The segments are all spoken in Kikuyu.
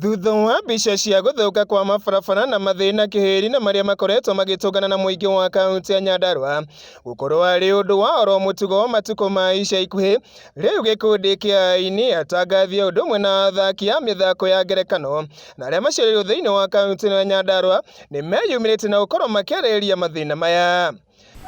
Thutha wa mbica cia gũthũka kwa mabarabara na mathĩna kĩhĩri na marĩa makoretwo magĩtũngana na mũingĩ wa kaunti ya Nyandarua gũkorwo arĩ ũndũ wa oro mũtugo matukũ ma ica ikuhĩ, rĩu gĩkundi kĩa aini, atangathi ũndũ ũmwe na athaki a mĩthako ya ngerekano na arĩa macereirwo thĩinĩ wa kaunti ya Nyandarua nĩmeyumĩrĩtie na gũkorwo makĩarĩrĩria mathĩna maya.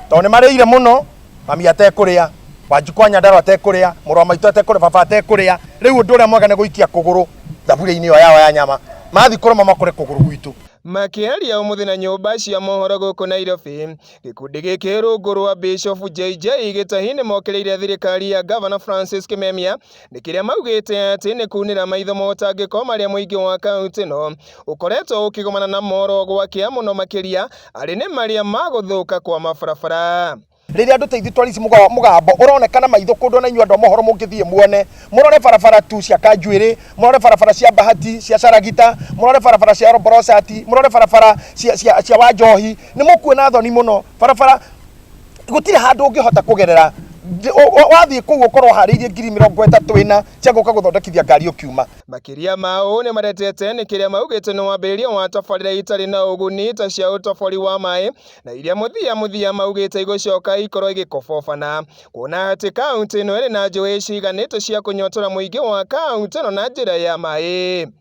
tondũ nĩ marĩire mũno mami atekũrĩa wanjikũ wa nyandaro atekũrĩa mũrũ wa maitũ atekũrĩa baba atekũrĩa rĩu ũndũ ũrĩa mwega nĩ gũikia kũgũrũ thaburia-inĩ ĩyo yao ya nyama mathiĩ kũrĩa mama kũrĩa kũgũrũ gwitũ Makĩaria ũmũthĩ na nyũmba cia mohoro gũkũ Nairobi, gĩkundi gĩkĩ rungu rwa Bishop JJ Gĩtahi nĩ mokĩrĩire thirikari ya Gavana Francis Kimemia nĩ kĩrĩa maugĩte atĩ nĩ kunĩra maitho motangĩko marĩa mũingĩ wa kaunti ĩno ũkoretwo ũkĩgomana na moro gwakia mũno makĩria arĩ nĩ marĩa ma gũthũka kwa mabarabara rĩrĩa andå teithu twarici mugambo uronekana maitho kundu na inyuĩ andå a mohoro mũngĩthiĩ muone murore barabara tu cia kanjuĩrĩ murore barabara cia bahati cia caragita murore barabara cia roborocati murore barabara cia wanjohi nĩ mukuona thoni muno barabara gutire handu ungihota kugerera wathiä kå u å korwo harä irie ngiri mä rongo ätatå ä na cia gå ka gå thondekithia ngari å kiuma makiria ma uu ni maretete ni kiria maugite ni wambiriria wa tabarira itari na uguni ta cia utabori wa mai na iria muthia muthia maugite igucoka ikorwo igikobobana kuona ati kaunti ino iri na njui ciiganite cia kunyotora muingi wa kaunti ino na njira ya mai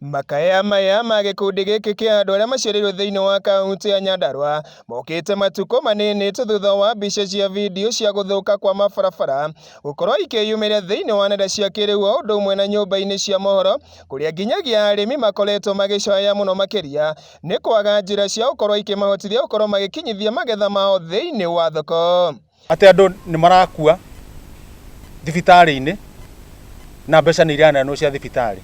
Makaya maya ma gĩkundi gĩkĩ kĩa andũ arĩa maciarĩirwo thĩinĩ wa kaunti ya Nyandarua mokĩte matukũ manini tu thutha wa mbica cia video cia gũthũka kwa mabarabara gũkorwo ikĩyumĩria thĩinĩ wa nenda cia kĩrĩu o ũndũ ũmwe na nyũmba-inĩ cia mohoro kũrĩa nginyagia arĩmi makoretwo magĩcaya mũno makĩria nĩ kwaga njĩra cia gũkorwo ikĩmahotithia gũkorwo magĩkinyithia magetha mao thĩinĩ wa thoko. atĩ andũ nĩ marakua thibitarĩ-inĩ na mbeca nĩ iraneanwo cia thibitarĩ.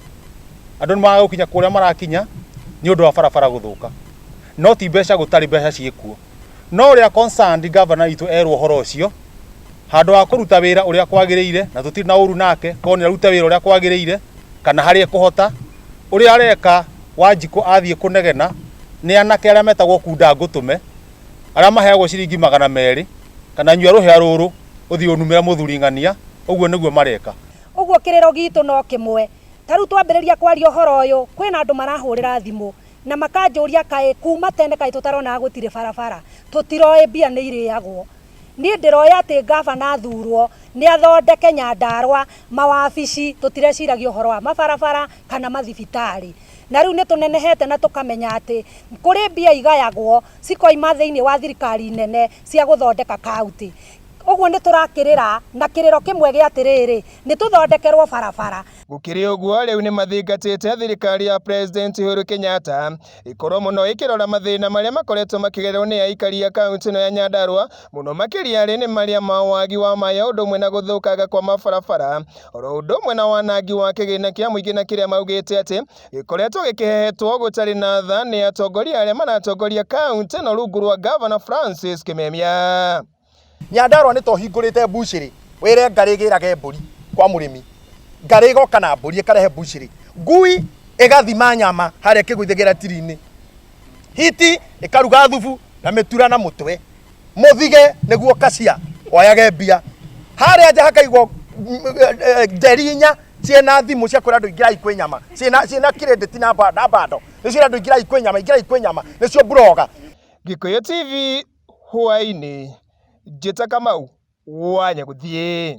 Andũ nĩ maraga gũkinya kũrĩa marakinya nĩ ũndũ wa barabara gũthũka. No ti mbeca gũtarĩ mbeca ciĩ kuo. No ũrĩa concerned governor witũ erwo ũhoro ũcio, handũ wa kũruta wĩra ũrĩa kwagĩrĩire, na tũtirĩ na ũru nake, korwo nĩ arute wĩra ũrĩa kwagĩrĩire, kana harĩa ekũhota, ũrĩa areka Wanjikũ athiĩ kũnegena nĩ anake arĩa metagwo kunda ngũtũme, arĩa maheagwo ciringi magana merĩ kana nyua rũhĩa rũrũ ũthiĩ ũnumĩra mũthuri ng'ania ũguo nĩguo mareka ũguo kĩrĩro gitũ no kĩmwe ta rĩu twambĩrĩria kwaria ũhoro ũyũ kwĩna andũ marahũrĩra thimũ na makanjũria kaĩ kuma tene kaĩ tũtaronaga gũtirĩ barabara tũtiroĩ mbia nĩ irĩagwo niĩ ndĩroĩ atĩ ngabana athurwo nĩ athondeke nyandarwa mawabici tũtireciragia ũhoro wa mabarabara kana mathibitarĩ Na rĩu nĩ tũnenehete na tũkamenya atĩ kũrĩ mbia igayagwo cikoima thĩinĩ wa thirikari nene cia gũthondeka kaũntĩ. Ũguo nĩ tũrakĩrĩra na kĩrĩro kĩmwe gĩa atĩrĩrĩ, nĩ tũthondekerwo barabara. Gũkĩrĩ ũguo, rĩu nĩ mathingatĩte thirikari ya President Uhuru Kenyatta ĩkorwo mũno ĩkĩrora mathĩna marĩa makoretwo makĩgererwo nĩ aikari a kaũntĩ ĩno ya Nyandarua, mũno makĩria arĩ nĩ marĩa ma wagi wa maĩ ũndũ ũmwe na gũthũkanga kwa mabarabara oro ũndũ ũmwe na wanangi wa kĩgĩna kĩa mũingĩ na kĩrĩa maugĩte atĩ gĩkoretwo gĩkĩhehetwo gũtarĩ na tha nĩ atongoria arĩa maratongoria kaunti ĩno rungu rwa gavana Francis Kimemia. Nyandarũa nĩ tohingũrĩte mbucĩrĩ wĩre ngarĩ gĩrage mbũri kwa mũrĩmi ngarĩ ĩgoka na mbũri ĩkarehe mbucĩrĩ ngui ĩgathima nyama harĩa kĩgũithĩgĩra tiri-inĩ hiti ikaruga thubu na mitura na mutwe muthige niguo kacia oyage mbia haria nja hakaigwo nderi inya ciena thimu cia kwira andu ingirai kwi nyama ciena ciena kirendeti na ba- na bando nicio andu ingirai kwi nyama ingirai kwi nyama nicio mburoga Gikuyu TV hwainĩ njĩta Kamau wa Nyagũthiĩ.